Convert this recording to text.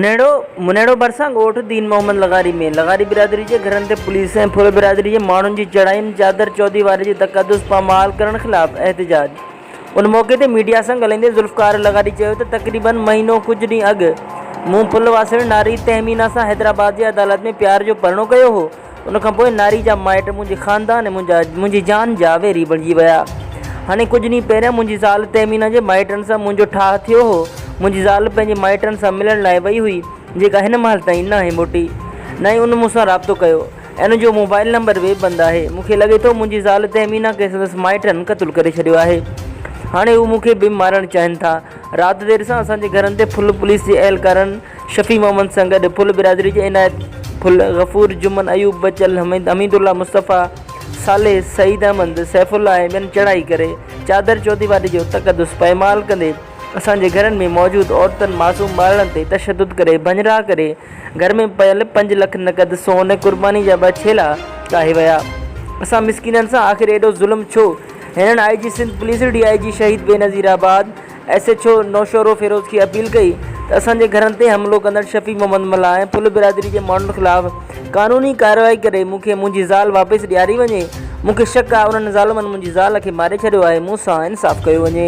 منهڙو، منهڙو ڀرسان ڳوٺ دين محمد لغاري ۾ لغاري برادري جي گهرن تي پوليس ۽ ڦر برادري جي ماڻهن جي چڙهائين چادر چوديواري جي تقدس پامال ڪرڻ خلاف احتجاج ان موقعي تي ميڊيا سان ڳالهائيندي ذوالفقار لغاري چيو ته تقريبا مهينو ڪجهه ڏينهن اڳ مون ڦل واسڻي ناري تهمينا سان حيدرآباد جي عدالت ۾ پيار جو پرڻو ڪيو هو ان کان پوء ناري جا مائٽ منهنجي خاندان ۽ منهنجي جان جا ويري بڻجي ويا. هاڻي ڪجهه ڏينهن پهريان منهنجي زال تهمينه جي مائٽن سان منهنجو ٺاهه ٿيو هو. منهنجي زال پنهنجي مائٽن سان ملڻ لاء وئي هئي، جيڪا هن مهل تائين ناهي موٽي. نه ئي ان مون سان رابطو ڪيو ۽ ان جو موبائل نمبر به بند آهي. مون کي لڳي ٿو منهنجي زال تهمينه کي سندس مائٽن قتل ڪري ڇڏيو آهي. هاڻي هو مون کي به مارڻ چاهين ٿا. رات دير سان اسان جي گهرن تي ڦل پوليس جي اهلڪارن شفيع محمد سان گڏ ڦل برادري جي عنايت ڦل، غفور، جمن، ايوب، بچل، حميد الله، مصطفيٰ، صالح، سعيد احمد، سيف الله ۽ ٻين چڙهائي ڪري چادر چوديواري جو تقدس پائمال ڪندي اسان جي گهرن ۾ موجود عورتن معصوم ٻارڙن تي تشدد ڪري ڀڃرا ڪري گهر ۾ پيل پنج لک نقد سون قرباني جا ٻه ڇيلا ڪاهي ويا اسان مسڪينن سان آخر ايڏو ظلم ڇو هينئر I G Sindh police D I G Shaheed Benazirabad S H O Naushahro Feroze کي اپيل ڪئي ته اسان جي گهرن تي حملو ڪندڙ شفيع محمد ملاح ۽ ڦل برادري جي ماڻهن خلاف قانوني ڪارروائي ڪري مون کي منهنجي زال واپس ڏياري وڃي، مون کي شڪ آهي انهن ظالمن منهنجي زال کي ماري ڇڏيو آهي، مون سان انصاف ڪيو وڃي.